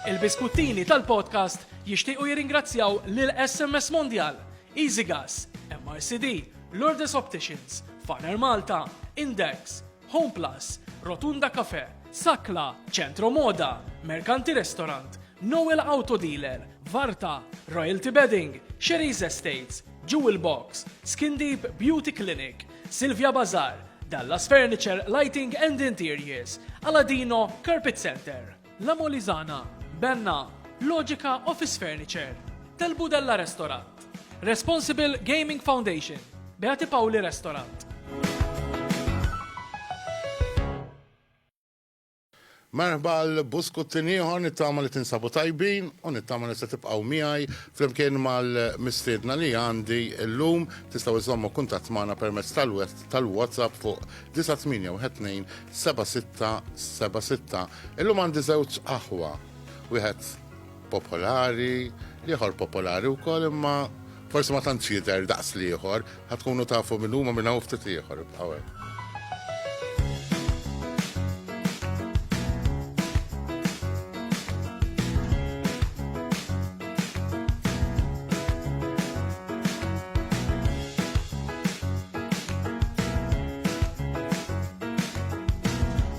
Il-biskuttini tal-podcast jixtiequ jirringrazzjaw lil SMS Mondial, Easy Gas, MRCD, Lourdes Opticians, Faner Malta, Index, Home Plus, Rotunda Cafe, Sakla, Centro Moda, Mercanti Restaurant, Noel Auto Dealer, Varta, Royalty Bedding, Sherry's Estates, Jewel Box, Skin Deep Beauty Clinic, Silvia Bazar, Dallas Furniture, Lighting and Interiors, Aladino, Carpet Center, La Molizana, Benna, Logica Office Furniture, Del Budella Restaurant, Responsible Gaming Foundation, Beati Pauli Restaurant. Merħba għal buskuttin ieħor nittama li tinsabu tajbin u nittama li se tibqgħu miegħi flimkien mal-mistiedna li għandi llum. Tistgħu żommu kuntatt magħna permezz tal-WhatsApp fuq 9812 7676. Illum għandi żewġ aħwa. Wieħed popolari, l-ieħor popolari wkoll imma forsi ma tantx jidher daqs l-ieħor, ħad tkunu tafu minn huma minn hawn ftit ieħor ibqgħu hemm.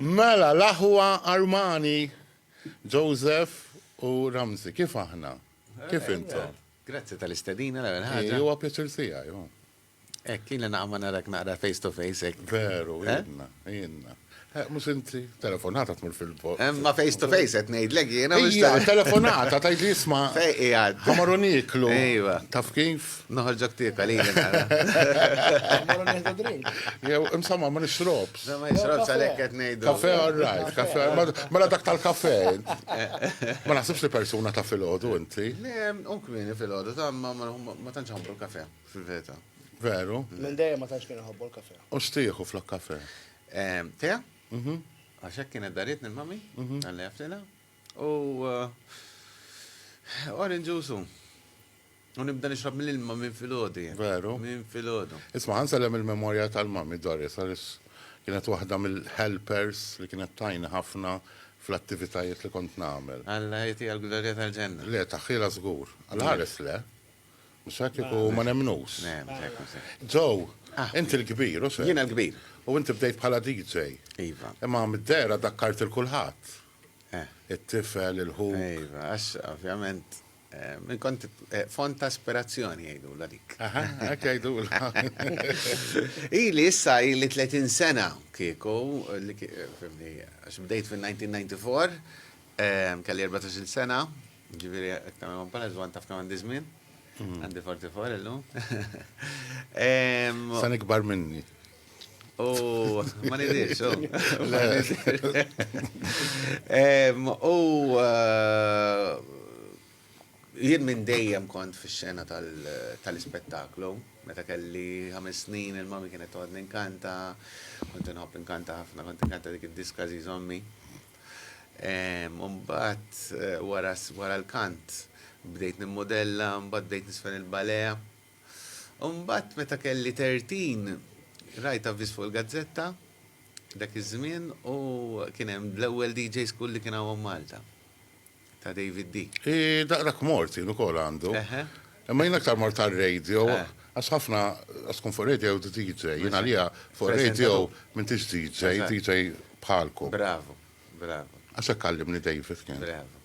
Mela, l-aħwa Armani, Joseph u Ramsey, kif aħna? Kif intom? Grazzi tal-istedina l-ewwel ħaġa. Hi, huwa pjaċir tiegħi, hu. Hekk, ilna naqgħu ma narak naqra face to face hekk. Veru, ilna, ilna. Mhux inti, telefonata tmur fil-bot. Ma face to face qed ngħidlek jiena mhux ta' telefonata tgħid li isma' ħamar u nieklu. Iva. Taf kif? Noħorġok tiekel jiena. Ħamar u nieħdu drink. Jew imsamma ma nixrob. Dan ma jisrobx għalhekk qed ngħidu. Kafe all right, kafe all right. Mela dak tal-kafe. Ma naħsibx li persuna ta' filgħodu inti. Le, u kmieni filgħodu ta' ma tantx ħobbu l-kafe fil-veta. Veru? Minn dejjem ma tantx kien ħobbu l-kafe. U xtieħu flok kafe? Te? Mhm. Għax hekk kienet daritni l-mami, għalli għaftina. U orange juice hu. U nibda nixrab mill-ilma minn filgħodu jien. Veru. Minn filgħodu. Isma' ħansellem il-memorja tal-Mummy Doris għaliex kienet waħda mill-helpers li kienet tgħinni ħafna fl-attivitajiet li kont nagħmel. Alla jtiha l-glorja tal-ġenna. Le, taħħilha żgur. Għall-ħares le. Mhux hekk kieku ma nemmnux. Le, mhux hekk, mhux hekk. Joe, inti l-kbir, hux hekk? Jiena l-kbir. U inti bdejt bħala DJ. Iva. Imma mid-dehra dakkart 'il kulħadd. it-tifel, il-ħuk. Iva, għax ovvjament Min kont eh, font ta' aspirazzjoni jgħidula dik. Għak jgħidula. Ili issa ili 30 sena kieku, għax bdejt fil-1994, kelli 14 sena, ġiviri għaktam għom pala zwan taf kaman dizmin, hmm. għandi 44 illum. San ikbar minni. U ma nidix, u. U eh, jien minn dejjem kont fi xena tal-ispettaklu, meta kelli ħames snin il-mami kienet toqgħod ninkanta, kont inħobb inkanta ħafna, kont inkanta dik id-diska żiż ommi. Umbat eh, wara l-kant bdejt nimmodella, mbagħad bdejt nisfen il-balea, U mbagħad meta kelli tertin rajt avviż fuq il-gazzetta dak iż-żmien u kien hemm l-ewwel DJ School li kien hawn Malta ta' David D. Daqrak mort jien ukoll għandu. Imma jien aktar mort għar-radio eh. għax ħafna għax tkun fuq radio u DJ. Jien għalija fuq radio m'intix DJ, DJ bħalkom. Bravo, bravo. Għax hekk għallimni David kien. Bravo.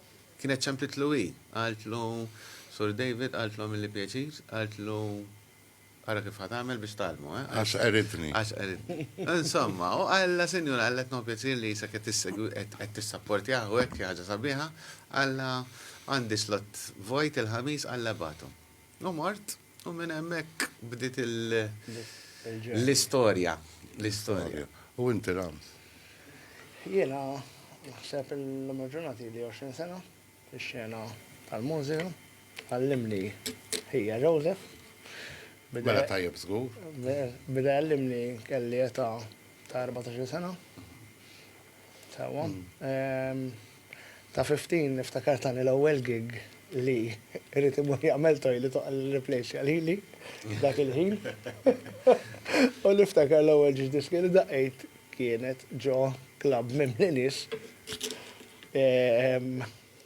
Kienet ċempitlu hi. Qaltlu, Sur David, qaltlu għamilli pjaċir, qaltlu, ara kif ħa tagħmel biex tgħallmu, eh? Għax qeridni. Għax qeridni. Insomma, u qallha, Sinjura, qalletna hu pjaċir li qisek qed tissegwi, qed tissapportjah u hekk, xi ħaġa sabiħa, qallha, Għandi slott vojt il-Ħamis, qallha ibagħtu. U mort. U minn hemmhekk bdiet l-istorja. L-istorja. U inti Rams? Jiena naħseb illum il-ġurnata ili 20 sena fix-xena tal-mużika. Għallimni ħija Joseph. Mela tajjeb żgur. Beda jgħallimni kelli età ta' 14 sena. Sewwa. Ta' fifteen niftakar tani l-ewwel gig li irid imur jagħmel toilet u qal irriplejsja lili dak il-ħin. U niftakar l-ewwel ġiex diski li daqqejt kienet ġo klabb mimli nies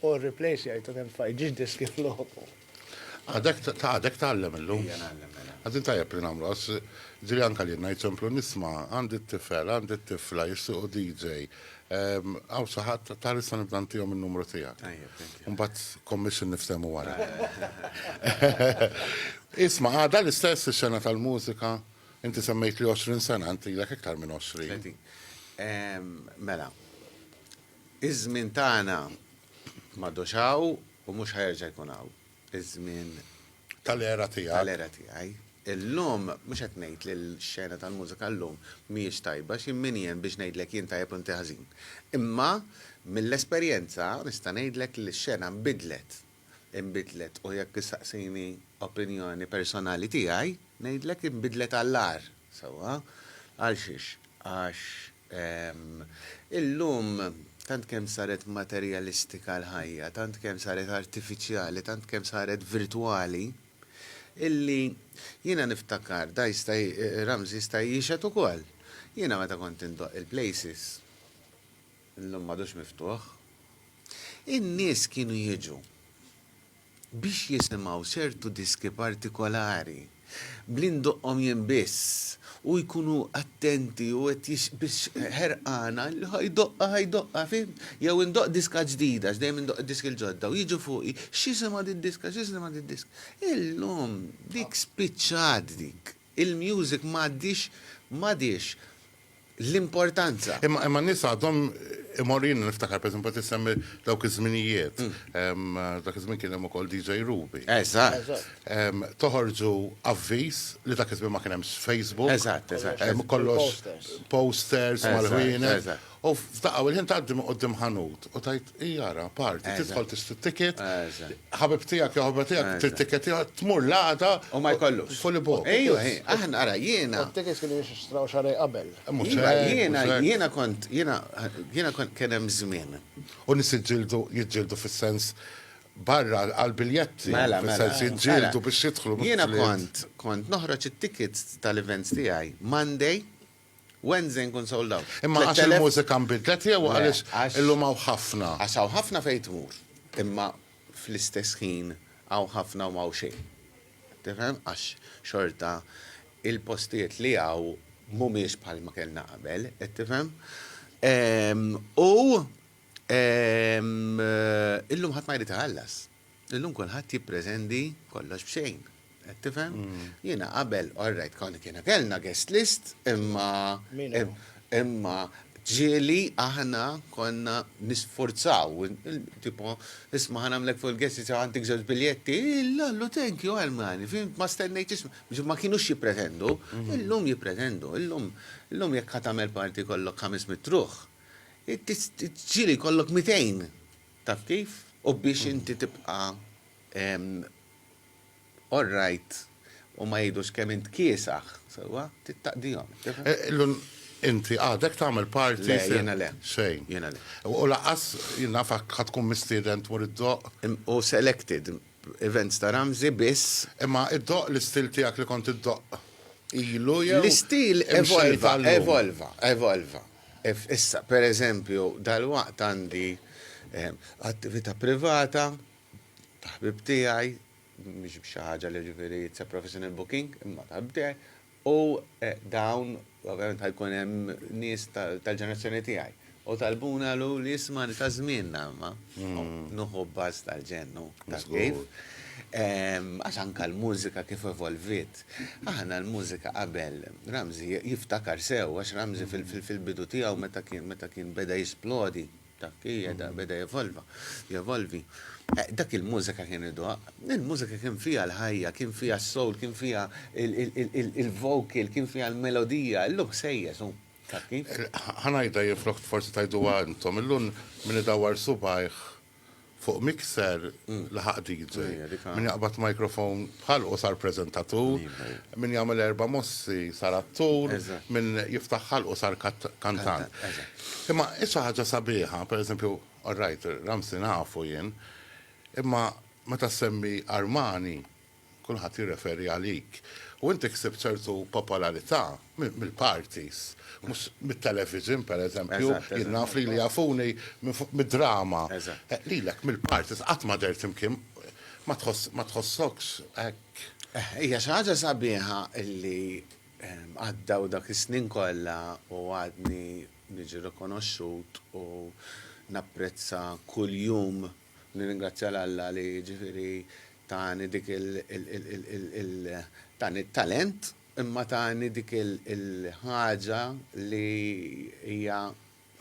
u rriplejsjajt u nefajt ġiex diski f'loħobu. Għadek ta' għadek tgħallem illum. Ejja ngħallem mela. Għadin tajjeb li nagħmlu għax ġiri anke li ngħid semplu nisma' għandi t-tifel, għandi t-tifla jissiequ DJ. Hawn xi ħadd ta' issa nibda ntihom in-numru tiegħek. Tajjeb, thank you. Mbagħad commission niftehmu wara. Isma' għadha l-istess ix-xena tal-mużika? Inti semmejtli 20 sena, inti ilek iktar minn 20. Mela, Iż-żmien tagħna m'għadux hawn u mhux ħa jerġa' jkun hawn. Iż-żmien. Tal-era tiegħek. Tal-era tiegħi. Illum mhux qed ngħid li l-xena tal-mużika llum mhijiex tajba xi min jien biex ngħidlek jien tajjeb u inti ħażin. Imma mill-esperjenza nista' ngħidlek li x-xena nbidlet. Inbidlet u jekk issaqsini opinjoni personali tiegħi ngħidlek inbidlet għall-agħar. Sewwa? Għalxiex? Għax Ehm, illum tant kemm saret materjalistika l-ħajja, tant kemm saret artifiċjali, tant kemm saret virtwali, illi jiena niftakar da jista' Ramzi jista' jixhed ukoll. Jiena meta kont indoqq il-places, illum m'għadux miftuħ, in-nies kienu jiġu biex jisimgħu ċertu diski partikolari, b'li ndoqqhom jien biss, u jkunu attenti u qed biex ħerqana li ħa jdoqqha, ħa jdoqqha, fhimt? Jew indoqq diska ġdida, għax dejjem indoqq id-diski l-ġodda, u jiġu fuqi, x'isimha did-diska, x'isimha did-diska. Illum dik spiċċat dik. Il-music m'għadhiex, m'għadhiex. l-importanza. Imma imma n-nies għadhom imorru jiena niftakar pereżempju qed issemmi dawk iż-żminijiet. Dak iż-żmien kien hemm ukoll DJ Ruby. Eżatt. Toħorġu avviż li dak iż-żmien ma kien hemmx Facebook. Eżatt, eżatt. Hemm kollox posters mal-ħwienet. U f'daqqa u l-ħin tgħaddi minn quddiem ħanut u tgħid Jara, parti, tidħol tista' ticket, ħabib tiegħek jew ħabib tiegħek trid ticket tmur l-għaqda. U ma jkollux. Fully booked. Ejju, aħna ara jiena. Tickets kienu jixtraw xarej qabel. Jiena, jiena kont, jiena, jiena kont kien hemm żmien. U nies jiġġieldu, jiġġieldu fis-sens barra għall-biljetti. Mela, mela. Fis-sens jiġġieldu biex jidħlu. Jiena kont, kont noħroġ it-tickets tal-events tiegħi Monday Wednesday nkun sold out. Imma għax il-mużika nbidlet jew għaliex illum hawn ħafna? Għax hawn ħafna fejn tmur, imma fl-istess ħin hawn ħafna u m'hawn xejn. Tifhem? Għax xorta il-postijiet li hawn mhumiex bħalma kellna qabel, qed tifhem? U illum ħadd ma jrid iħallas. Illum kulħadd jippretendi kollox b'xejn. Qed tifhem? Jiena qabel, all right, kont kiena kellna guest list, imma imma ġieli aħna konna nisforzaw, tipo, isma' ħa nagħmlek fuq il-guest list għandek żewġ biljetti, illallu thank you għall-mani, fim, ma stennejt isma', biex ma kienux jippretendu, illum jippretendu, illum illum jekk ħa tagħmel party jkollok ħames mit-truħ, ġieli jkollok mitejn. Taf kif? U biex inti tibqa' all right u ma jgħidux kemm int kiesaħ, sewwa, trid taqdihom. Tifhem? Inti għadek tagħmel parti fi. Le, jiena le. Xejn. Jiena le. U lanqas, jien naf, ħa tkun mistieden tmur iddoqq. U selected events ta' Ramsey biss. Imma iddoqq l-istil tiegħek li kont iddoqq ilu jew imxejjed għal-lum? L-istil evolva, evolva, evolva. Ev, Issa, per eżempju, dalwaqt għandi attività privata ta' ħbieb tiegħi, mhix xi ħaġa li ġifieri it's a professional booking, imma ta' ħbieb tiegħi, u dawn ovvjament ħa jkun hemm nies tal-ġenerazzjoni tiegħi. U talbuni qalu li isma' li ta' żmienna imma nuħu b'baż tal-ġennu, taf kif? Għax anke l-mużika kif evolviet. Aħna l-mużika qabel Ramsey jiftakar sew għax Ramsey fil-bidu tiegħu meta kien meta kien beda jisplodi taf kif jeda beda jevolva jevolvi dak il-mużika kien idoqq il-mużika kien fiha l-ħajja kien fiha s-soul kien fiha il-vocal kien fiha l-melodija illum ħsejjes hu taf kif. Ħa ngħidha jien flok forsi tgħiduha intom illum min idawwar subgħajh fuq mixer laħaq DJ. Min jaqbad microphone bħal u sar prezentatur, min jagħmel erba' mossi sar attur, min jiftaħ ħal u sar kantant. Imma issa ħaġa sabiħa, per eżempju, all right, Ramsi nafu jien, imma meta semmi Armani, Kulħadd jirreferi għalik. U inti ksibt ċertu popolarità mill-parties, mhux mit-television, pereżempju. Jien naf lili jafuni mid-drama. Lilek mill-parties qatt ma dehrt imkien ma tħossokx hekk? Hija xi ħaġa sabiħa li għaddew dak is-snin kollha u għadni niġi rikonoxxut u napprezza kuljum. Nirringrazzja 'l Alla li jiġifieri tani dik il tani t-talent imma tani dik il-ħaġa li hija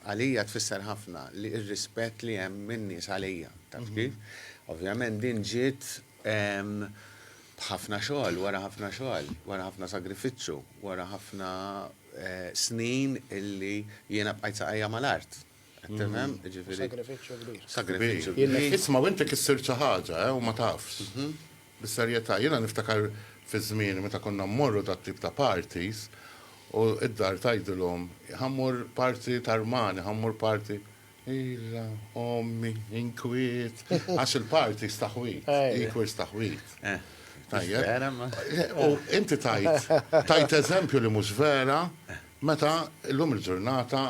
għalija tfisser ħafna li r-rispett li hemm min-nies għalija. Taf kif? Ovvjament din ġiet b'ħafna xogħol, wara ħafna xogħol, wara ħafna sagrifiċċju, wara ħafna snin illi jiena bqajt saqajja mal-art. Temem, mm. ġifiri. Sagrifiċċju kbir. Sagrifiċċju kbir. Isma' u inti kissir xi ħaġa, eh, u ma tafx. Mhm. Bis-serjetà, jiena niftakar fi żmien meta konna mmorru dat tip ta' parties u id-dar tajdilhom ħammur parti tarmani, ħammur parti Illa, ommi, inkwiet, għax il-parti staħwit, inkwiet staħwit. Eh, tajjeb. Eh, u inti tajt, tajt eżempju li mhux vera, meta l-lum il-ġurnata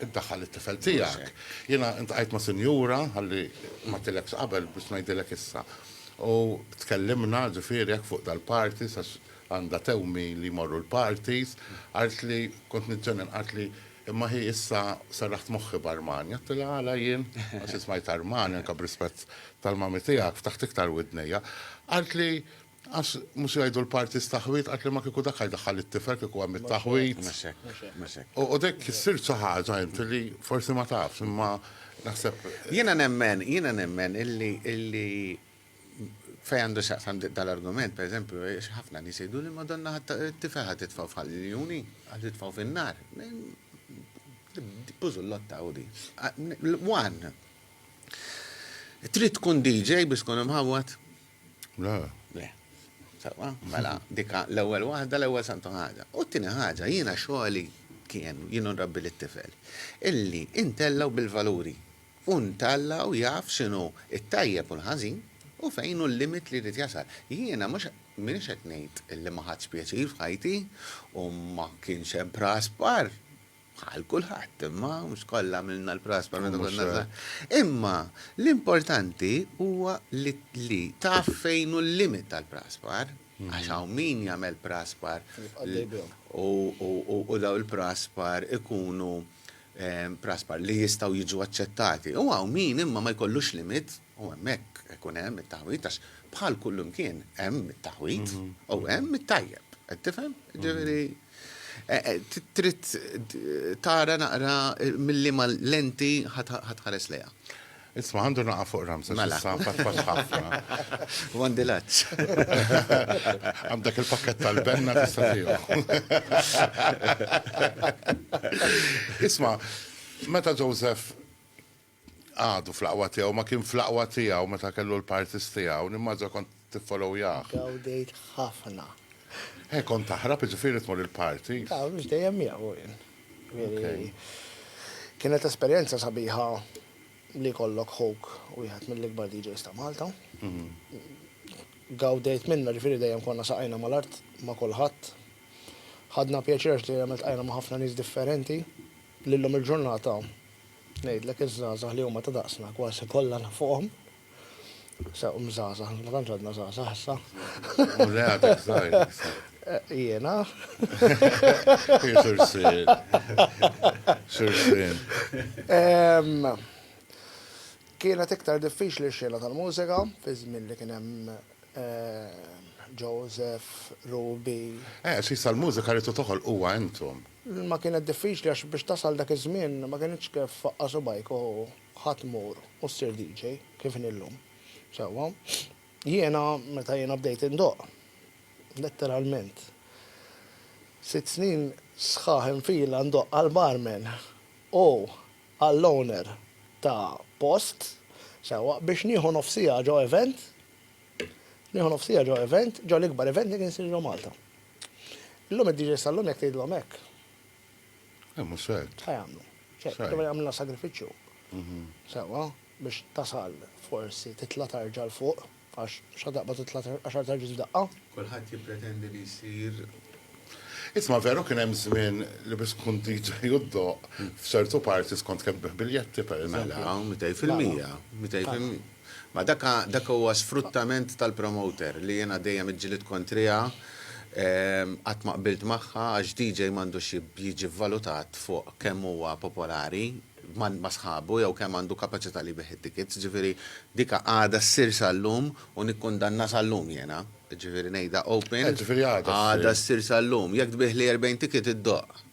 Iddaħħal it-tifel tiegħek. Jiena iltqajt ma' sinjura, ħalli ma għedtilekx qabel biex ngħidilek issa. U tkellimna, ġifieri, hekk fuq dal-parties għax għandha tewmi li jmorru l-parties, qaltli, kont niġġennen, qaltli, imma hi issa serraħt moħħi b'Armani. Għedtilha, għala jien? Għax jien smajt Armani, anke b'rispett tal-mami tiegħek, ftaħt iktar widnejja. Qaltli, Għax mhux jgħidu l-parties taħwid qatli ma kieku dak ħajdaħħal it-tifel kieku hemm it-taħwid. Mhux hekk, mhux hekk. U dik issir xi ħaġa inti li forsi ma tafx imma naħseb. Jiena nemmen, jiena nemmen illi illi fejn għandu x'jaqsam dal-argument, pereżempju, għax ħafna nies jgħiduli Madonna t-tifel ħa titfgħu f'ħal-iljuni, ħa titfgħu fin-nar. Bużullotta hu di. One. Trid tkun DJ biex tkun imħawwad? Le. Le. Sewa, mela, dika l-ewwel waħda, l-ewwel santu ħaġa. U t-tieni ħaġa, jiena xogħli kien, jien nrabbi lit-tifel, illi intellaw bil-valuri u ntallaw jaf x'inhu t-tajjeb u l-ħażin u fejn hu l-limit li jrid jasal. Jiena mhux m'iniex qed ngħid illi ma ħadtx pjaċir f'ħajti u ma kienx hemm praspar Bħal kulħadd, imma mhux kollha għamilna l-prasbar meta konna żgħar. Imma l-importanti huwa li taf fejn hu l-limit tal-prasbar, għax hawn min jagħmel prasbar u daw il-prasbar ikunu prasbar li jistgħu jiġu aċċettati. U hawn min imma ma jkollux limit U hemmhekk ikun hemm it-taħwid għax bħal kullimkien hemm it-taħwid u hemm it-tajjeb. Qed tifhem? Ġifieri trid tara naqra milli ma lenti ħatħares lejha. Isma' għandu naqa' fuq ramsa mela sa fatfax ħafna. U għandi laċċ. Għandek il-pakket tal-benna tista' tiegħu. Isma' meta Joseph Għadu fl-aqwa tiegħu, ma kien fl-aqwa tiegħu meta kellu l-parties tiegħu, nimmaġina kont tiffollowjah. Gawdejt ħafna. Eh, kont taħrab jiġifieri tmur il-parties? Le, mhux dejjem miegħu jien. Jiġifieri kienet esperjenza sabiħa li jkollok ħuk wieħed mill-ikbar DJs ta' Malta. Gawdejt minnha, jiġifieri dejjem konna saqajna mal-art ma' kulħadd. Ħadna pjaċir għax dejjem iltqajna ma' ħafna nies differenti li llum il-ġurnata, Ngħidlek iż-żgħażagħ li huma ta' daqsna kważi kollha nafuqhom. Sa um żgħażagħ, ma tantx għadna żgħażagħ issa. U le għadek żgħir. Jiena. Xursin. Xursin. Kienet iktar diffiċli x-xena tal-mużika, fi żmien li kien hemm Joseph, Ruby. Eh, xi sal-mużika li toħol huwa intom. L-ilma kienet diffiċli għax biex tasal dak iż-żmien ma kinitx kif faqqa' subgħajk u ħa tmur u ssir DJ kif inhi llum. Sewwa, jiena meta jiena bdejt indoqq, letteralment, sitt snin sħaħ infila ndoqq għall-barman u għall-owner ta' post, sewwa, biex nieħu nofsiegħa ġo event, nieħu nofsiegħa ġo event, ġo l-ikbar event li kien isir ġo Malta. Illum id-DJs tal-lum jekk tgħidilhom hekk. Eh, mhux ċert. Ħa jagħmlu. ċert, Jagħmlu. jagħmlilna sagrifiċċju. Mhm. Sewwa, biex tasal forsi titla' tarġa' 'l fuq, għax xa taqbad titla' tar- għaxar tarġiet f'daqqa. Kulħadd jippretendi li jsir. Isma' veru kien hemm żmien li biex tkun DJ u ddoqq f'ċertu parties kont kemm tbigħ biljetti, pereżempju. Mela, mitej fil-mija. Mitej fil-mija. Ma dak dak huwa sfruttament tal-promoter li jiena dejjem iġġilied kontriha, qatt ma qbilt magħha għax DJ m'għandux jiġi vvalutat fuq kemm huwa popolari ma' sħabu jew kemm għandu kapaċità li jbigħ it-tickets, ġifieri dik għadha ssir sal-lum u nikkundannha sal-lum jiena, ġifieri ngħidha open, għadha ssir sal-lum, jekk tbiegħli 40 ticket iddoqq.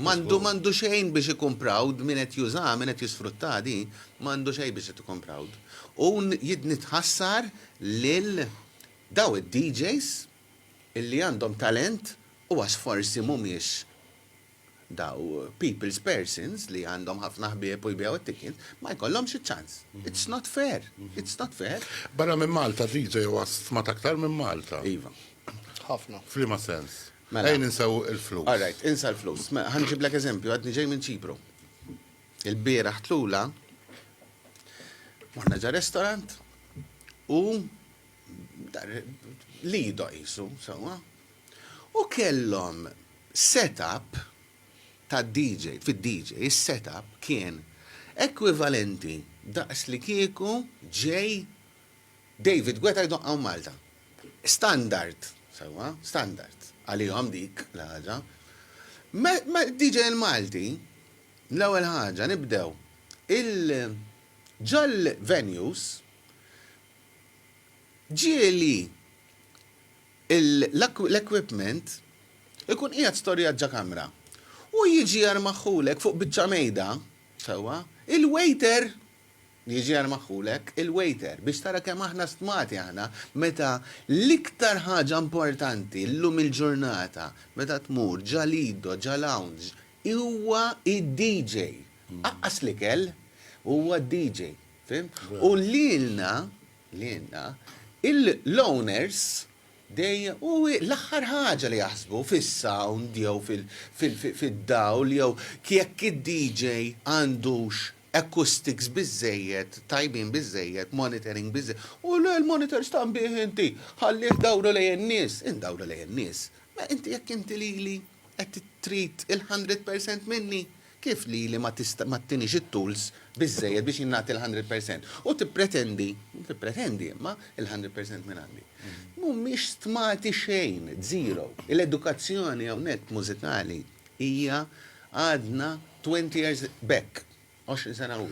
M'għandu m'għandu xejn biex ikun proud, min qed jużaha, min qed jisfruttaha di, m'għandu xejn biex qed ikun proud. U jidni tħassar lil daw id-DJs illi għandhom talent u għax forsi mhumiex daw people's persons li għandhom ħafna ħbieb u jbigħu t-tickets, ma jkollhomx iċ-ċans. It's not fair. It's not fair. Barra minn Malta DJ huwa stmat aktar minn Malta. Iva. Ħafna. F'liema sens? Mela. Ejja ninsew il-flus. All right, insa l-flus. Mela, ħa nġiblek eżempju, għadni ġej minn Ċipru. Il-bieraħ tlula morna ġa restaurant u lido qisu, sewwa. U kellhom setup ta' DJ, fid-DJ, is-setup kien ekwivalenti daqs li kieku ġej David Gweta jdoqqaw Malta. Standard, sewwa, standard, għalihom dik l-ħaġa. Mal-DJ il-Malti, l-ewwel ħaġa nibdew il ġol-venues ġieli l-equipment ikun qiegħed storjat ġo kamra u jiġi jermaħħulek fuq biċċa mejda, sewwa, il-waiter Jiġi għal magħqulek il-waiter biex tara kemm aħna stmati aħna meta l-iktar ħaġa importanti llum il-ġurnata meta tmur ġa Lido, ġa lounge, huwa d-DJ. Aqqas l-ikel, huwa d-DJ. Fhimt? U lilna, lilna, l-owners dejjem hu l-aħħar ħaġa li jaħsbu fis-sound jew fid-dawl jew jekk id-DJ għandux acoustics biżżejjed, tajbin biżżejjed, monitoring biżżejjed. U le l-monitor stan bih inti, ħallih dawru lejn in-nies. Indawru lejn in-nies? Mela inti jekk inti lili qed trid il-hundred percent minni, kif lili ma tista' ma ttinix it-tools biżżejjed biex jien nagħti l-hundred percent? U tippretendi, tippretendi imma, il-hundred percent minn għandi. Mhumiex stmati xejn, zero. Il-edukazzjoni hawnhekk mużikali Hija għadna twenty years back, għoxrin sena u.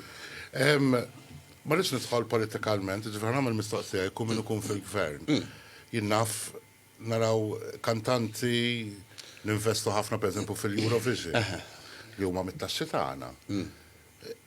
Ma rridx nidħol politikalment, jiġifieri ħa nagħmel mistoqsija, jkun min ikun fil-Gvern. Jien naf naraw kantanti ninvestu ħafna pereżempju fil-Eurovision li huma mit-taxxi tagħna.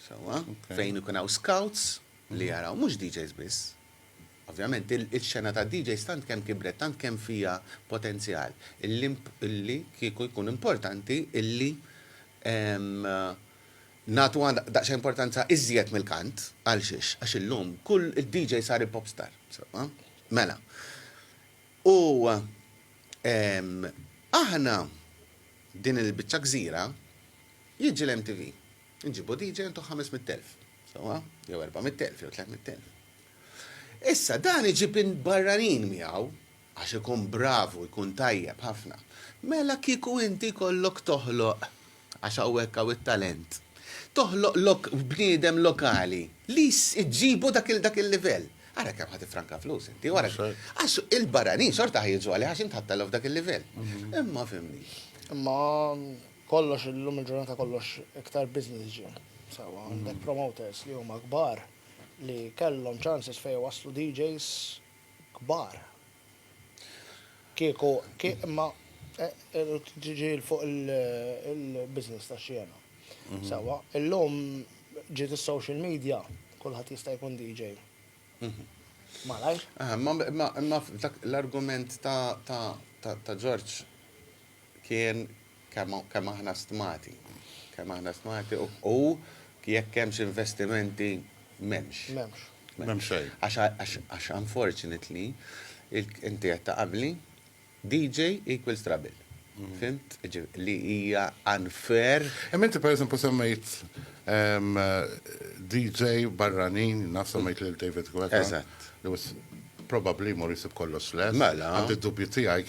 Sewwa, fejn ikun hawn scouts li jaraw, mhux DJs biss. Ovvjament, il-xena tad-DJs tant kemm kibret, tant kemm fiha potenzjal, illi kieku jkun importanti illi nagħtuha daqsxejn importanza iżjed mill-kant. Għal xiex? Għax illum kull id-DJ sar il-pop star. Sewwa. Mela. U aħna din il-biċċa gżira Jiġi l-MTV. Inġibu DJ intu ħames mitt elf. Sewwa? Jew erba' mitt elf, jew tliet mitt elf. Issa, dan iġib in barranin miegħu, għax ikun bravu, jkun tajjeb ħafna. Mela kieku inti jkollok toħloq, għax hawnhekk hawn it-talent, toħloq lok bniedem lokali li jss iġġibu dak il dak il-livell. Ara kemm ħa tiffranka flus inti, u ara. Għax il-barranin xorta ħa jiġu għalih għax int ħadt għalihom f'dak il-livell. Imma fhimni. Imma Kollox illum il-ġurnata kollox iktar business ġie. Sewwa għandek promoters li huma kbar li kellhom chances fejn iwasslu DJs kbar. Kieku imma tiġi fuq il-business tax-xena. Sewwa illum ġiet is-social media kulħadd jista' jkun DJ. Malajr. Imma l-argument ta' Ġorġ kien kemm aħna stmati. Kemm aħna stmati u jekk hemmx investimenti m'hemmx. M'hemmx. M'hemm xejn. Għax unfortunately, inti qed taqabli, DJ equals trouble. Fhimt? Jiġifieri li hija unfair. Imma inti pereżempju semmejt DJ barranin, naf semmejt lil David Guetta. Eżatt. Li hu probabbli jmur jsib kollox lest. Mela. Għandi d-dubji tiegħi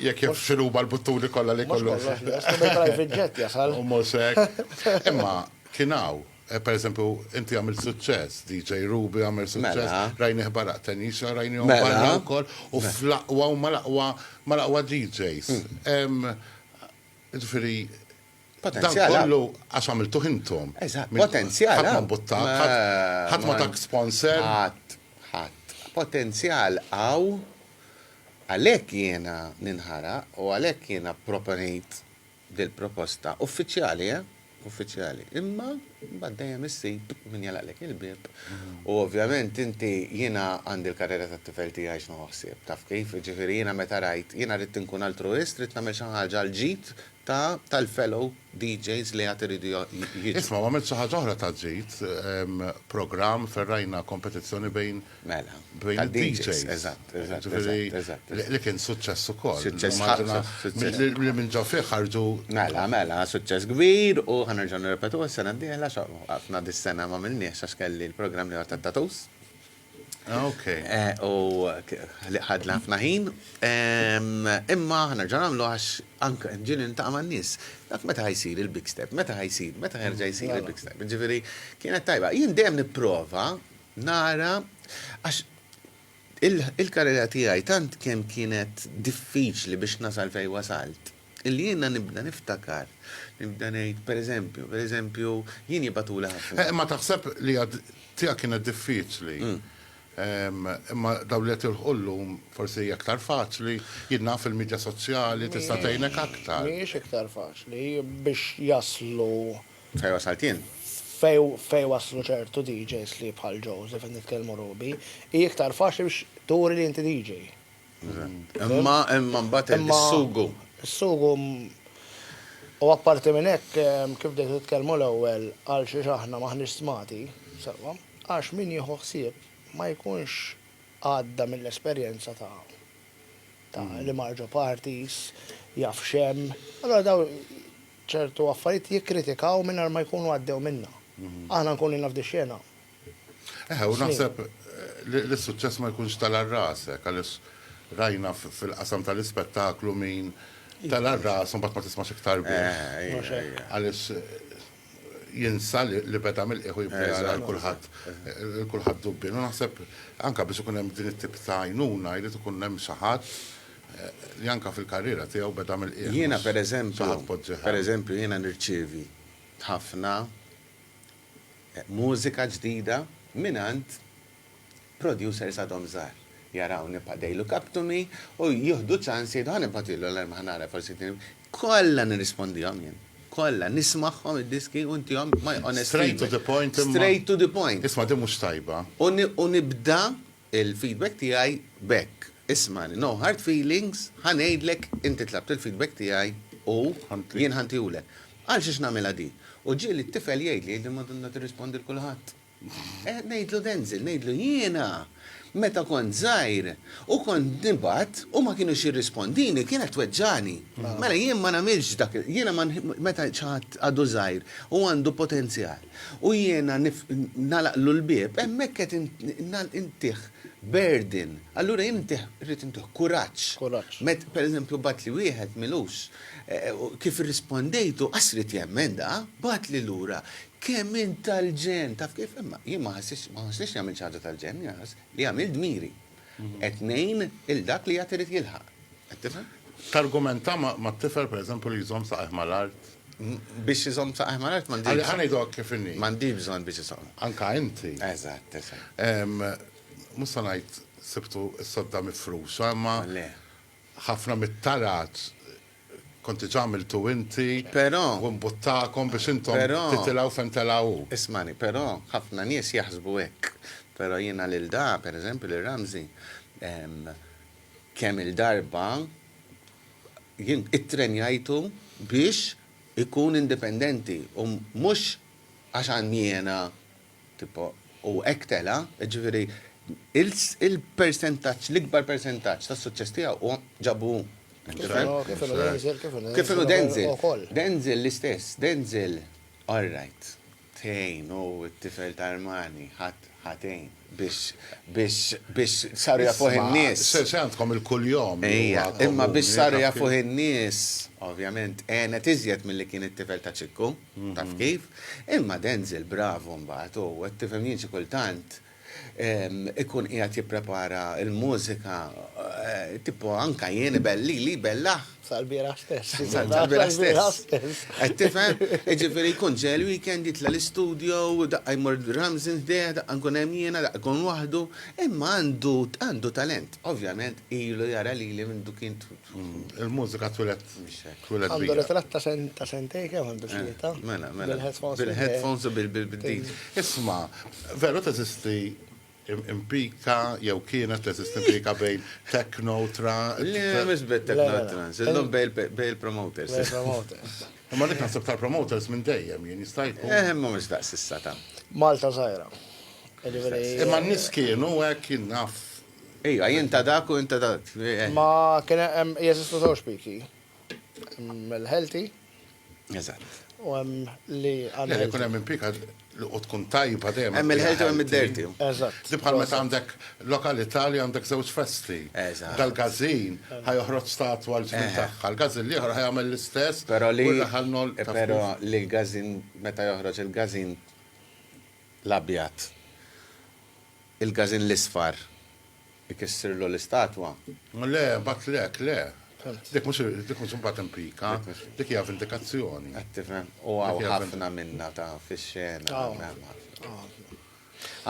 jekk jaf x'inhuma l-buttuni kollha li jkollu. Mhux kollox lest, imma private jet jasal. U mhux hekk. Imma kien hawn. Per eżempju, inti għamilt suċċess, DJ Ruby għamel suċċess, Mela. rajnih barra Qtenisha, rajnihom Mela. barra wkoll, u Mela. fl-aqwa huma l-aqwa mal-aqwa DJs. Hemm, jiġifieri, dan Potenzjal hawn. kollu għax għamiltuh intom. Eżatt, Min- potenzjal Ħadd ma hawn. mbuttak, Ma- ħadd- ħadd ma ma- tak sponsor. Ħadd, ħadd. Potenzjal hawn, għalhekk jiena ninħaraq u għalhekk jiena pproponejt dil-proposta. Uffiċjali, eh? Uffiċjali. Imma mbagħad dejjem issib min jagħlaqlek il-bieb. U ovvjament inti jiena għandi l-karriera tat-tifel tiegħi x'nhu ħsieb, taf kif? Jiġifieri jiena meta rajt, jiena ridt inkun altruwist, ridt nagħmel xi ħaġa għall-ġid ta' tal-fellow DJs li għad iridu jiġu. Isma', u għamilt xi ħaġa oħra ta' ġid, programm fejn rajna kompetizzjoni bejn Mela. Bejn id-DJs. Eżatt, eżatt. Ġifieri li kien suċċess ukoll. Suċċess ħafna. Li minn ġo fih ħarġu. Mela, mela, suċċess kbir u ħa nerġgħu nirrepetuh is-sena d-dieħla għax waqafna dis-sena m'għamilniex għax kelli l-programm l-ieħor tat-tattoos. Okej. U ħadna ħafna ħin. Imma ħa nerġgħu nagħmluh għax anke ġieli niltaqa' man-nies. Dak meta ħa jsir il-Big Step? Meta ħa jsir? Meta ħa jerġa' jsir il-Big Step? Ġifieri kienet tajba. Jien dejjem nipprova nara għax il-karriera tiegħi tant kemm kienet diffiċli biex nasal fejn wasalt, illi jiena nibda niftakar, nibda ngħid per eżempju, per eżempju jien jibgħatuli ħafna. Eh, imma taħseb li hija tiegħek kienet diffiċli. Imma dawn li qed jilħqu llum forsi hija aktar faċli, jien naf il-midja soċjali tista' tgħinek aktar. Mhijiex iktar faċli biex jaslu Fejn wasalt jien? Fejn waslu ċertu DJs li bħal Joseph qed nitkellmu Ruby, hi iktar faċli biex turi li inti DJ. Imma imma mbagħad is-sugu. Is-sugu u apparti minn hekk kif bdejt titkellmu l-ewwel għal xiex aħna m'aħniex stmati sewwa, għax min jieħu ħsieb ma jkunx għadda mill-esperjenza ta' ta' li mar ġo parties, jaf x'hemm, allura dawn ċertu affarijiet jikkritikaw mingħajr ma jkunu għaddew minnha. Aħna nkunu ilna f'di xena. Eħe, u naħseb li s-suċċess ma jkunx tela' rasek għaliex rajna fil-qasam tal-ispettaklu min tela' rasu mbagħad ma tismax iktar bih. Għaliex jinsa li beda mill-qiegħ u jibda jara lil kulħadd lil kulħadd dubbien. U naħseb anke biex ikun hemm din it-tip ta' għajnuna jrid ikun hemm xi ħadd li anke fil-karriera tiegħu beda mill-qiegħ. Jiena pereżempju, pereżempju jiena nirċievi ħafna mużika ġdida mingħand producers għadhom żgħar. Jaraw nibqa' they look up to me u jieħdu ċans jgħidu ħa nibgħatilhom l-arma ħa nara forsi din. Kollha nirrispondihom jien. Kollha. Nismagħhom id-diski u ntihom my honest feedback. Straight to the point imma. Straight to the point. Isma' din mhux tajba. U nibda il-feedback tiegħi b'hekk, Ismagħni, no hard feelings, ħa ngħidlek, inti tlabt il-feedback tiegħi u jien ħa ntihulek. Għal xiex nagħmilha di? U ġieli t-tifel jgħidli, jgħidli Madonna tirrispondi l kulħadd. Eh, ngħidlu Denzel, ngħidlu jiena meta kont żgħir u kont nibgħat u ma kinux jirrispondini kienet tweġġagħni. Mela jien ma nagħmilx dak, jiena meta xi ħadd għadu żgħir u għandu potenzjal, U jiena nagħlaqlu l-bieb, hemmhekk qed intih burden. Allura jien intih, irrid intih kuraġġ. Kuraġġ. Met, pereżempju, bagħatli wieħed m'ilux, kif irrispondejtu, qas ried jemmen da, bagħatli lura, kemm int tal-ġenn, taf kif? Imma jien ma ħassitx, ma ħossnix li għamilt xi ħaġa tal-ġenn, jien ħass li għamilt dmiri. Qed ngħin lil dak li għad irid jilħaq. Qed tifhem? Targumenta mat-tifel pereżempju li jżomm saqajh mal-art? Biex iżomm saqajh mal-art m'għandix. Ħa ngħidulek kif inhi. M'għandix bżonn biex iżomm. Anke inti. Eżatt, eżatt. Mhux se ngħid sibtu s-sodda mifruxa imma. Le. Ħafna mit-tarat Kont diġà għamiltu inti. Però. U mbuttakom biex intom. Però. Titilgħu fejn tela' hu. Ismagħni, però ħafna nies jaħsbu hekk. Però jiena lil da, per eżempju lil Ramsey, kemm-il darba jien ittrenjajtu biex ikun indipendenti u mhux għax għandi jiena. Tipo, u hekk tela', jiġifieri il-persentaġġ, l-ikbar persentaġġ tas-suċċess tiegħu huwa ġabu hu. Kif inhu Denzel, kif inhu. Kif inhu Denzel. Denzel l-istess, Denzel, all right, tgħin u t-tifel ta' Armani, ħadd ħa tgħin biex saru jafuh in-nies. Se għandkom il-kuljom. Ejja, imma biex saru jafuh in-nies, ovvjament, għenet iżjed milli kien it-tifel ta' Ċikku. Taf kif? Imma Denzel bravu mbagħad hu, qed tifhem jien xi kultant ikun qiegħed jipprepara l-mużika tipo anke jien lili jbellaħ. Sal-bieraħ stess. Sal-bieraħ stess. Qed tifhem? Jiġifieri jkun ġej il-weekend jitla' l-istudio, daqqa jmur Ramsin ħdejh, daqqa nkun hemm jiena, daqqa jkun waħdu, imma għandu talent. Ovvjament ilu jara lili minn du kien Il-mużika twilet twilet. Għandu ritratt ta' sen ta' sentej kemm għandu eh, xita. Mela, mela. Bil-headphones u bil-din. Isma, veru teżisti impika jew kienet teżisti impika bejn techno tra. Le, mhux bejn techno trans, illum bejn il-promoters. Imma dik naħseb tal-promoters minn dejjem jien jista' jkun. Eh, imma mhux daqs issa ta'. Malta żgħira. Imma n-nies kienu hekk jien naf Iva, jien ta' dak u int ta' dak. Ma kien hemm, jeżistu żewġ piki. Hemm il-healthy. Eżatt. U hemm li unhealthy. Le, jkun hemm il-pika u tkun tajba dejjem. Hemm il-healthy u hemm id-dirty. Eżatt. Di bħal meta għandek lokalità li għandek żewġ festi. Eżatt. Dal-gazin ħa joħroġ statwa l-ġnien tagħha, l-gazin l-ieħor ħa jagħmel l-istess u r-raħal nol. Però li l-gazin, meta joħroġ il-gazin l-abjad. Il-Każin l-Isfar ikissirlu l-istatwa? Le, mbagħad le, hekk le. Dik mhux dik mhux imbagħad impika, dik hija vendikazzjoni. Qed tifhem? U hawn ħafna minnha ta' fix-xena. Hawn hemm ħafna.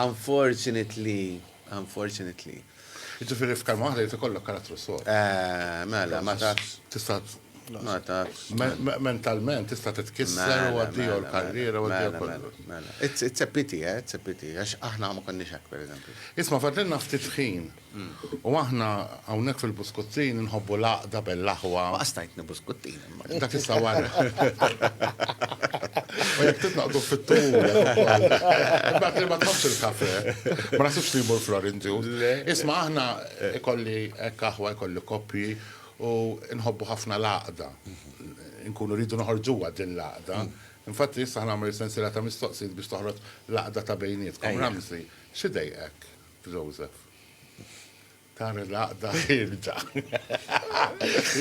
Unfortunately, unfortunately. Jiġifieri f'kelma waħda jrid ikollok karattru sod. Mela, ma tafx. Tista' Mentalment tista' titkisser u għaddiju l-karriera u għaddiju kollu. It's a pity, eh, it's a pity, għax aħna ma konniex hekk pereżempju. Isma' fadlilna ftit ħin. U aħna hawnhekk fil-Buskuttin inħobbu l-għaqda bell-aħwa. Ma qastajtni Buskuttin imma. Dak issa wara. U jekk titnaqdu fit-tul. Imbagħad li ma tħobbx il-kafe. Ma naħsibx li jmur Florin Ġu. Isma' aħna ikolli hekk aħwa jkolli koppji. U nħobbu ħafna l-għaqda. Inkunu rridu noħorġuha din l-għaqda. Infatti issa ħnagħmel sensiela ta' mistoqsijiet biex toħroġ l-għaqda ta' bejnietkom. Ramsey, x'idejqek f'Joseph? Tara l-għaqda ħierġa.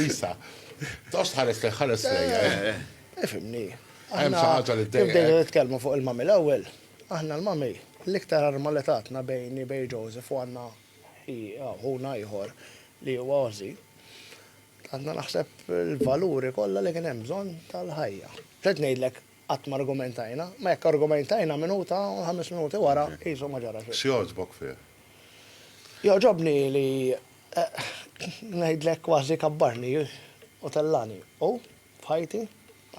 Isa, toqgħodx tħares lejh, ħares lejja. Ifhimni. Hemm xi ħaġa li ddejqek. Bdejna nitkellmu fuq il-mummy l-ewwel. Aħna l-mummy l-iktar arma li tatna bejni bejn Joseph u Anna Hi aħuna ieħor li huwa Ozzy. Għandna naħseb il-valuri kollha li kien hemm bżonn tal-ħajja. Trid ngħidlek qatt ma argumentajna, ma jekk argumentajna minuta u ħames minuti wara qisu ma ġara xejn. X'jogħġbok fih? Jogħġobni li ngħidlek kważi kabbarni u tellani u f'ħajti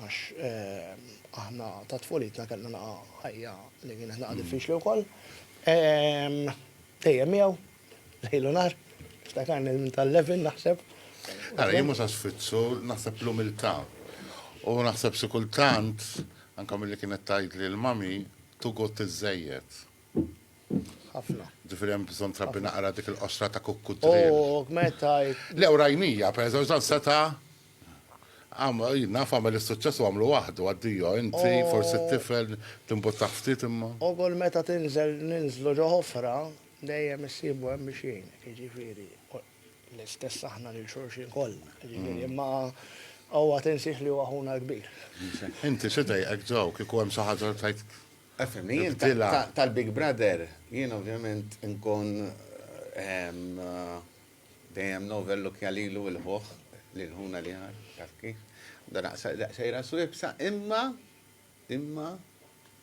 għax aħna ta' tfulitna kellna naqa' ħajja li kienet naqa' diffiċli wkoll. Dejjem miegħu, lejl u nhar, niftakarni minn tal-11 naħseb. Ara, jien mhux għax fitxu, naħseb l-umiltà. U naħseb xi kultant, anke milli kienet tgħidli l-mami, too good tiżżejjed. Ħafna. Ġifieri hemm bżonn trabbi naqra dik il-qoxra ta' kukkudriel. Oh, meta. Le, u rajnija, pereżempju, dan seta' Naf għamel is-suċċess u għamlu waħdu, addio, inti, forsi t-tifel, timbuttah ftit imma. U kull meta tinżel ninżlu ġo ħofra, dejjem issibu hemm biex jgħinek, jiġifieri l-istess aħna lil xulxin kollha, jiġifieri imma awwa tinsiex li huwa ħuna l-kbir. Inti xi dejqek Joe kieku hemm xi ħaġa li tgħid? Efhimni, jien tal-Big Brother, jien ovvjament inkun Dejjem novel look ja lilu il-ħuħ li l-ħuna li ħa, taf kif. Dan aqsa daqsejra swibsa, imma, imma,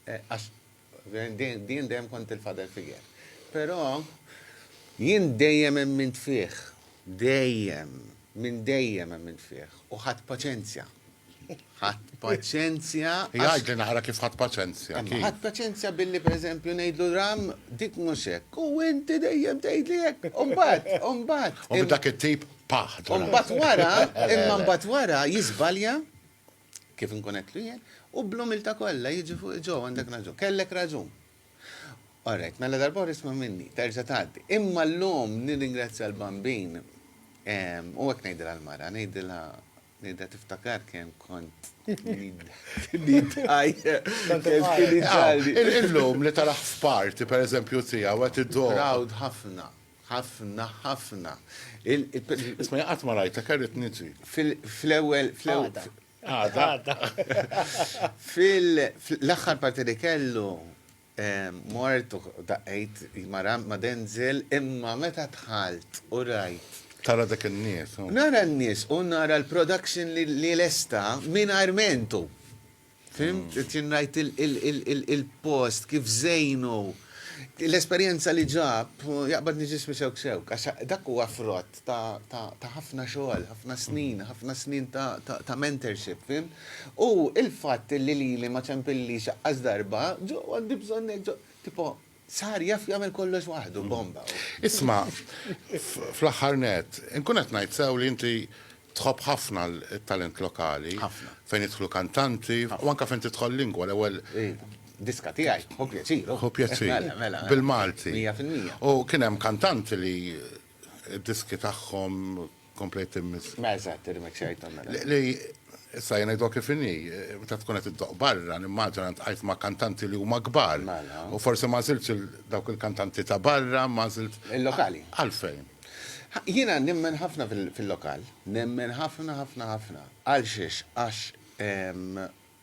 għax din dejjem kont il-father figure. Però jien dejjem emmint fih, dejjem, minn dejjem emmint fih, u ħadd paċenzja Ħadd paċenzja. Jgħid li nara kif ħadd paċenzja. Ħadd paċenzja billi pereżempju ngħidlu ram dik mhux hekk. U inti dejjem tgħidli hekk. U mbagħad, u mbagħad. U dak it-tip paħ. U mbagħad wara, imma mbagħad wara jiżbalja kif inkun qedtlu jien, u bl-umilta kollha jiġi fuq ġo għandek raġun. Kellek raġun. Alright, mela darba isma' minni, terġa' tgħaddi. Imma llum nirringrazzja l-bambin u hekk ngħidilha l-mara, ngħidilha Nejda tiftakar kemm kont nidħaj. Illum li taraħ f'party pereżempju tiegħu qed iddoqq. Proud ħafna, ħafna, ħafna. Isma' jien qatt ma rajtek għax ridt niġi. Fl-ewwel, fl-ewwel. Għada. Fil-aħħar party li kellu Mort u daqqejt mara ma' Denzel imma meta dħalt u rajt. Tara dak in-nies u. Nara n-nies u nara l-production li lesta mingħajr mentu. Fhimt? Qed ngħid il-post kif żejnu. L-esperjenza li ġab jaqbadni ġismi sewk sewk għax dak huwa frott ta' ħafna xogħol, ħafna snin, ħafna snin ta' mentorship, fim? U il-fatt li lili ma ċempilli xaqqas darba, ġo għandi bżonn ġo, tipo, sar jaf jagħmel kollox waħdu, bomba. Isma, fl-aħħar net, inkun qed ngħid sew li inti tħobb ħafna t-talent lokali. Ħafna. Fejn jidħlu kantanti, u anke fejn tidħol lingwa l-ewwel. Diska tiegħi, hu pjaċir. Hu pjaċir. Mela, mela. Bil-Malti. Mija fil-mija. U kien hemm kantanti li id-diski tagħhom komplejt immiss. Ma eżatt, irmixxajthom mela. Li issa jien ngħidlok kif inhi, meta tkun qed iddoqq barra, nimmaġina ntqajt ma' kantanti li huma kbar. Mela. U forsi m'għażiltx dawk il-kantanti ta' barra, imma għażilt. Il-lokali. Għalfejn? Jiena nemmen ħafna fil-lokal. Nemmen ħafna, ħafna, ħafna. Għalxiex? Għax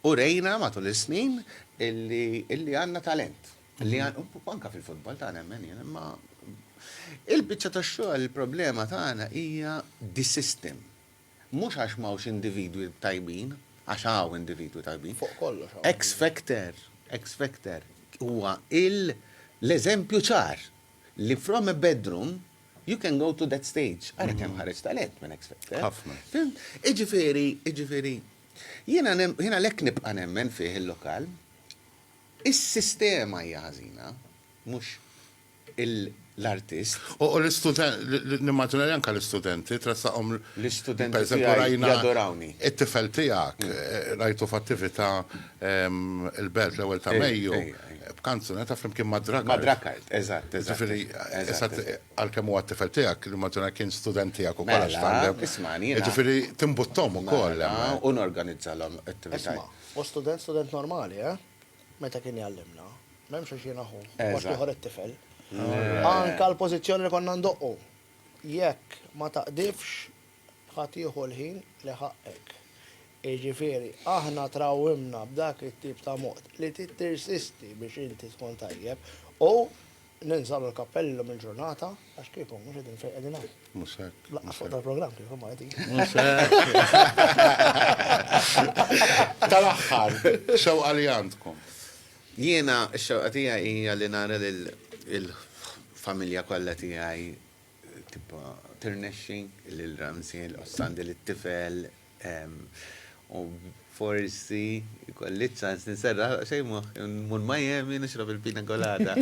Urejna matul is-snin illi għandna talent. Anke fil-futbol ta' nemmen jien, imma il-biċċa tax-xogħol il-problema tagħna hija the system. Mhux għax m'hawnx individwi tajbin, għax hawn individwi tajbin. Fuq kollox. X-Factor, X-Factor huwa l-eżempju ċar li from a bedroom you can go to that stage. Ara kemm ħareġ talent minn X-Factor. Ħafna. Fimt? Jiġifieri, jiġifieri Jiena għalhekk nibqa' nemmen fih il-lokal. Is-sistema hija ħażina, mhux l-artist. U nimmaġina li anke l-istudenti tressaqhom. L-istudenti tiegħi jadorawni. It-tifel tiegħek rajtu f'attività il-Belt l-ewwel ta' Mejju b'kanzunetta flimkien mad-Drakkart. Mad-Drakkart, eżatt, eżatt. Ġifieri, Għalkemm huwa t-tifel tiegħek, nimmaġina kien student tiegħek ukoll għax tgħallem. Mela, ismagħni jiena. Jiġifieri timbutthom ukoll hemm. Mela, u norganizzalhom attivitajiet. Isma', hu student, student normali, eh? Meta kien jgħallimna. M'hemmx għax jiena ħuh. Eżatt. Post ieħor it-tifel. Anke l-pożizzjoni li konna ndoqqu. Jekk ma taqdifx, Ħa tieħu l-ħin li ħaqqek. Jiġifieri, aħna trawwimna b'dak it-tip ta' mod li tittirsisti biex inti tkun tajjeb u ninżgħu l-kappell illum il-ġurnata għax kieku mhux qegħdin fejn qegħdin hawn. Mhux hekk. Laqqas fuq tal-programm kieku ma qegħdin. Mhux hekk. Tal-aħħar, xewqa li għandkom. Jiena x-xewqa tiegħi hija li nara lill-familja kollha tiegħi tibqa' tirnexxi lil Ramsey l-qossan din it-tifel u forsi kolli ċans niserra xejn mur Miami nixrob il-pina colada.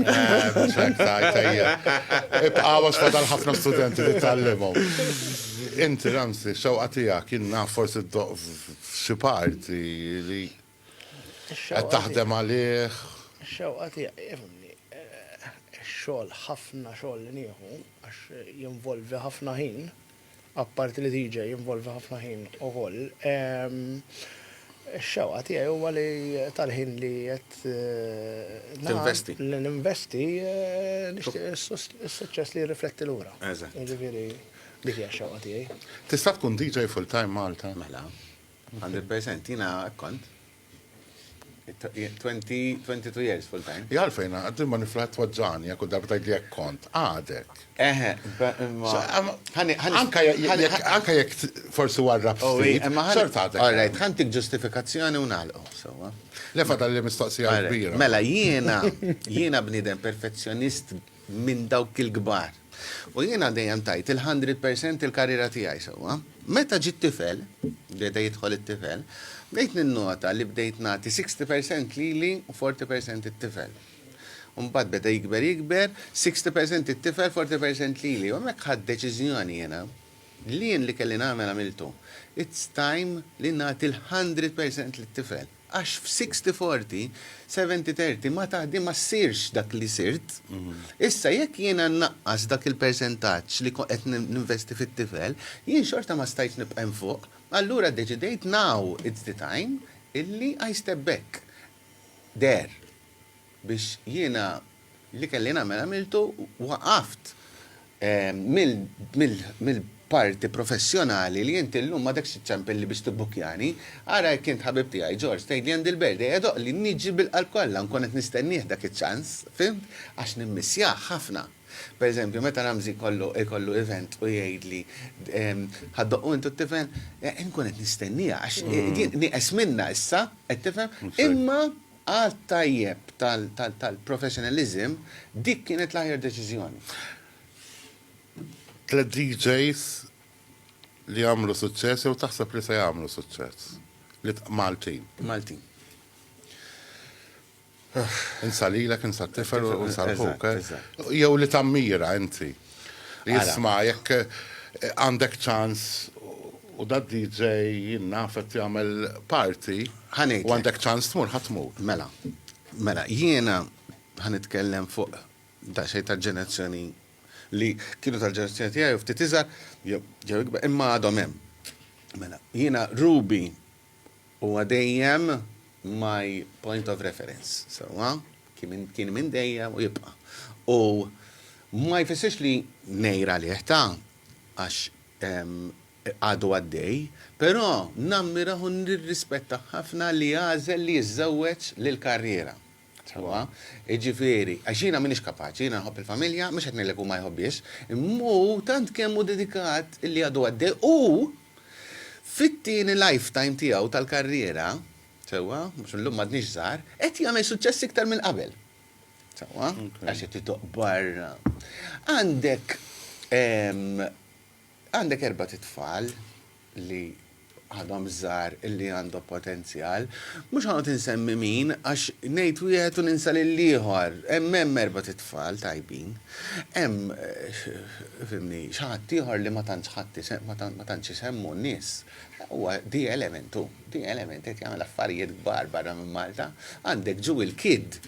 Ibqawa xfadal ħafna studenti li tgħallimhom. Inti Ramsey, xewqa tiegħek jien naf forsi ddoqq f'xi parti li Qed taħdem għalih. Ix-xewqa tiegħi fimni. Ix-xogħol ħafna xogħol li nieħu għax jinvolvi ħafna ħin, apparti li DJ jinvolvi ħafna ħin ukoll. Ix-xewqa tiegħi huwa li tal-ħin li qed eh, ninvesti. Li ninvesti eh, nixtieq is-suċċess li jirrifletti lura. Eżatt. Jiġifieri dik hija x-xewqa tiegħi. Tista' tkun DJ full-time Malta? Mela. 100% jina kont. 22 years full time. Jgħal fejna, għaddim ma niflaħt twaġġani, għakku darba tajd li jek kont, għadek. Eħe, anka jek forsi warrab oh, ftit, xort għadek. Għalajt, għantik ġustifikazzjoni unalqo, sewa. Lefa tal-li mistoqsija kbira. Mela, jiena, jiena bnidem perfezzjonist minn dawk il-kbar. U jiena dejjem tajt il-hundred percent il-karriera tiegħi sewwa. Meta ġiet tifel, beda jidħol it-tifel, bdejt ninnota li bdejt nagħti sixty percent lili u forty percent it-tifel. U mbagħad beda jikber jikber, sixty percent it-tifel, forty percent lili. U hemmhekk ħadt deċiżjoni jiena li jien li kelli nagħmel għamiltu. It's time li nagħti l-hundred percent lit-tifel. Għax f'sixty forty, seventy thirty ma taħdi ma ssirx dak li sirt. Issa jekk jiena nnaqqas dak il-persentaġġ li qed ninvesti fit-tifel, jien xorta ma stajtx nibqa' hemm fuq. Allura ddeċidejt now it's the time illi I step back. There. Biex jiena. Li kelli nagħmel għamiltu u waqaft mill-parti professjonali li int illum m'għadekx iċċempilli biex tibbukkjani. Ara jekk int ħabib tiegħi, George, tgħidli Andy l-Berd, ejja doqli, niġi bil-qalb kollha, nkun qed nistennieh dak iċ-ċans, fhimt, għax nimmissjah ħafna. Per eżempju, meta Ramsey jkollu event u jgħidli Ħa ddoqqu intu t-tifel? Inkun qed nistenniha għax nieqes minnha issa, qed tifhem? Imma. Għadd tajjeb tal-professionalism, dik kienet l-aħjar deċiżjoni. Tliet DJs li għamlu suċċess jew taħseb li se jagħmlu suċċess? Maltin. Maltin. Insa lilek, insa t-tifel u insa l-ħuk. Jew li tammira inti. Isma' jekk għandek ċans u da DJ jien naf qed jagħmel party. Ħa ngħidlek. U għandek ċans tmur ħa tmur. Mela. Mela jiena ħa nitkellem fuq daqsxejn tal-ġenerazzjoni li kienu tal-ġenerazzjoni tiegħi u ftit iżgħar jew ikbar imma għadhom hemm. Mela jiena Ruby Huwa dejjem my point of reference, sewwa? Kien minn dejjem u jibqa'. U ma jfissirx li ngħir għalih ta' għax għadu għaddej, però nammirah u nirrispettah ħafna li għażel li jiżżewweġ lill-karriera. Sewwa, jiġifieri, għax jiena m'iniex kapaċi, jiena nħobb il-familja, mhux qed ngħidlek hu ma jħobbhiex, imma hu tant kemm hu dedikat li għadu għaddej u fit-tieni lifetime tiegħu tal-karriera, sewwa, għax illum m'għadniex żgħar, qed jagħmel suċċess iktar minn qabel. Sewwa, għax qed itoqq barra. Għandek għandek erbat' itfal. li għadhom żgħar li għandhom potenzjal. Mhux ħanqgħod insemmi min għax ngħid wieħed u ninsa lil ieħor. Hemm hemm erba' titfal tajbin. Hemm eh, fimni, xi ħadd ieħor li ma tantx ħadd ma tantx isemmu n-nies. Huwa di elementu, di element qed jagħmel affarijiet kbar barra minn Malta. Għandek ġu il-kid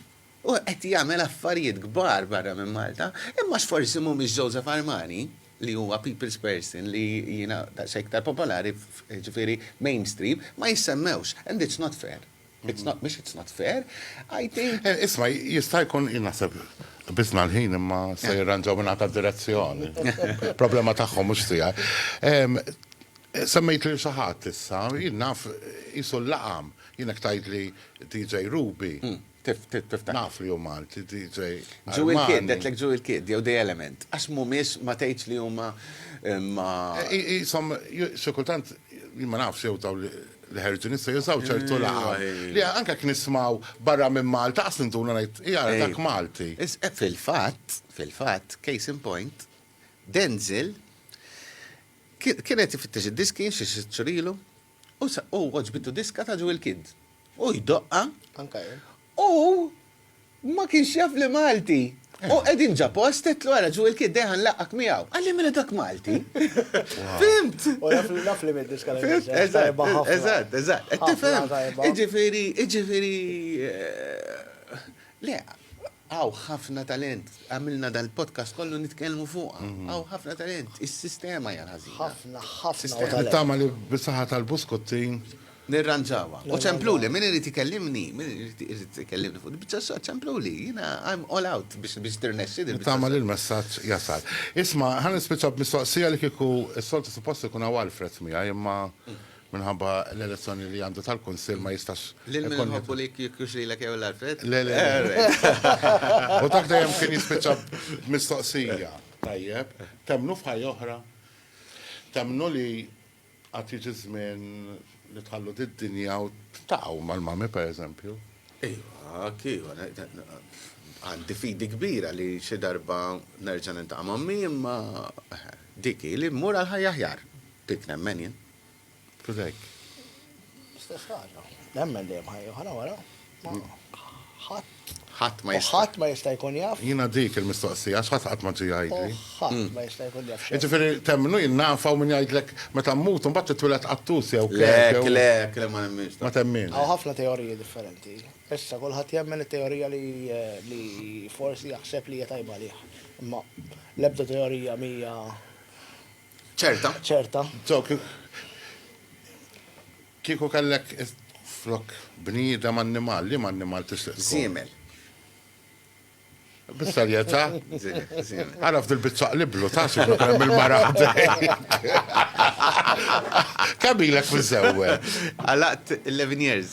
Hu qed jagħmel affarijiet kbar barra minn Malta, imma x'forsi mhumiex Joseph Armani, li huwa people's person li jiena daqsxejn iktar popolari, jiġifieri mainstream, ma jissemmewx. And it's not fair. It's not, mhux it's not fair, I think. Isma', jista' jkun, jien naħseb qbiżna l-ħin imma se jirranġaw minn għada d-direzzjoni. Problema tagħhom mhux tiegħi. Semmejt lil xi ħadd issa, jien naf qisu l-laqam. Jien hekk tgħidli DJ Ruby. Tif, tif, tif, tif. Naf li hu Malti, ti, ġej. Ġu il-kid, detlek ġu il-kid, jew the element. Għax mumiex ma tgħidx li huma eh, ma. Jisom, eh, sekultant, ma nafx jew taw li ħerġu nista jużaw ċertu laqa. Li anka kien nismaw barra minn Malta, għas nintuna ngħid, hija dak Malti. Eh, fil-fatt, fil-fatt, case in point, Denzel kienet ifittex id-diski xi xċurilu U għoġbitu diska ta' Jewel Kidd. U jdoqqa. Anka jien. U ma kienx jaf li Malti. U qegħdin ġa post għedtlu għara Jewel Kidd dejja ħanlaqqak miegħu. Qalli mela dak Malti. Fimt! U naf li mid-diska li Eżatt, eżatt, eżatt. Qed tifhem? Iġifieri, iġifieri. Le, Hawn ħafna talent. Għamilna dal-podcast kollu nitkellmu fuqha. Hawn ħafna talent. Is-sistema hija l-ħażina. Ħafna, ħafna talent. Nittama li bis-saħħa tal-buskuttin. Nirranġawha. U ċempluli, min irid ikellimni, min irid ikellimni fuq il-biċċa xogħol, ċempluli. Jiena I'm all out biex tirnexxi din. Nittama li l-messaġġ jasal. Isma', ħa nispiċċa b'mistoqsija li kieku s-soltu suppost ikun hawn Alfred miegħi, imma Minħabba l-elezzjoni li għandu tal-Kunsill ma jistax. Lil min nħobbu li jkux lilek jew l-Alfred? Le, le. U dak dejjem kien jispiċċa mistoqsija. Tajjeb, temnu f'ħajja oħra? Temnu li għad jiġi żmien li tħallu did-dinja u taqgħu mal-mami pereżempju? Iva, kif, għandi fidi kbira li xi darba nerġa' nintaqa' mammi imma diki li mmur għal ħajja ħjar. Dik nemmen jien. Kif hekk? Stess ħaġa. Nemmen dejjem ħajja ħana wara. Ħadd. Ħadd ma jista'. Ħadd ma jista' jkun jaf. Jiena dik il-mistoqsija, x'ħadd qatt ma ġie jgħidli. Ħadd hmm. ma jista' jkun jaf. Jiġifieri temmnu jien nafa u min jgħidlek meta mmut u mbagħad titwieled qattus jew kif. Le, le, le ma nemminx. Ma temmin. Hawn ħafna teoriji differenti. Issa kulħadd jemmen it-teorija li eh, forsi jaħseb li hija tajba lih. Imma l-ebda teorija mija Ċerta. Ċerta. Kieku kellek flok bniedem annimal, li ma annimal tixtieq tkun? Żiemel. Bis-serjetà? Żiemel. Għaraf dil-biċċa qliblu ta' xi hemm il-mara ħdejk. Kemm ilek miżżewweġ? Għalaqt 11 years.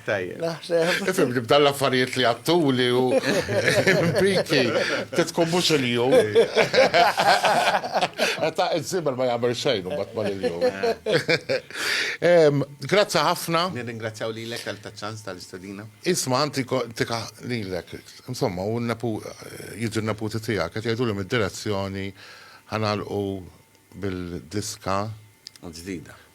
Tajjeb. Naħseb. Ifhem li b'dan l-affarijiet li għattuli u impiki titkun mhux il-jum. Ta' iż-żiebel ma jagħmel xejn u mbagħad mal il-jum. Grazzi ħafna. Nirringrazzjaw lilek għal taċ-ċans tal-istedina. Isma' anti tika lilek. Insomma, u n-nepu jiġu n-neputi tiegħek qed jgħiduli mid-direzzjoni ħa nagħlqu bil-diska. Ġdida.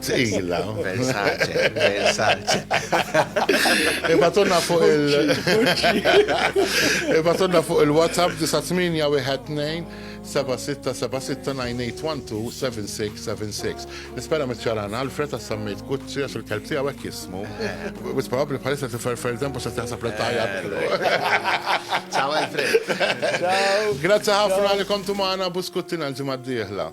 Tqila. Versace, Versace. Ibatunna fuq il- Ibatunna fuq il-WhatsApp 9812 7676 Nispera mitċaran Alfred għas sammejt Gucci għax il-kelb tiegħu hekk jismu. Wis eh. probabbli bħalissa tiferfer dempu se taħseb li tajja. Eh, Ciao Alfred. Grazzi ħafna li kontu magħna buskuttina l-ġimgħa d-dieħla.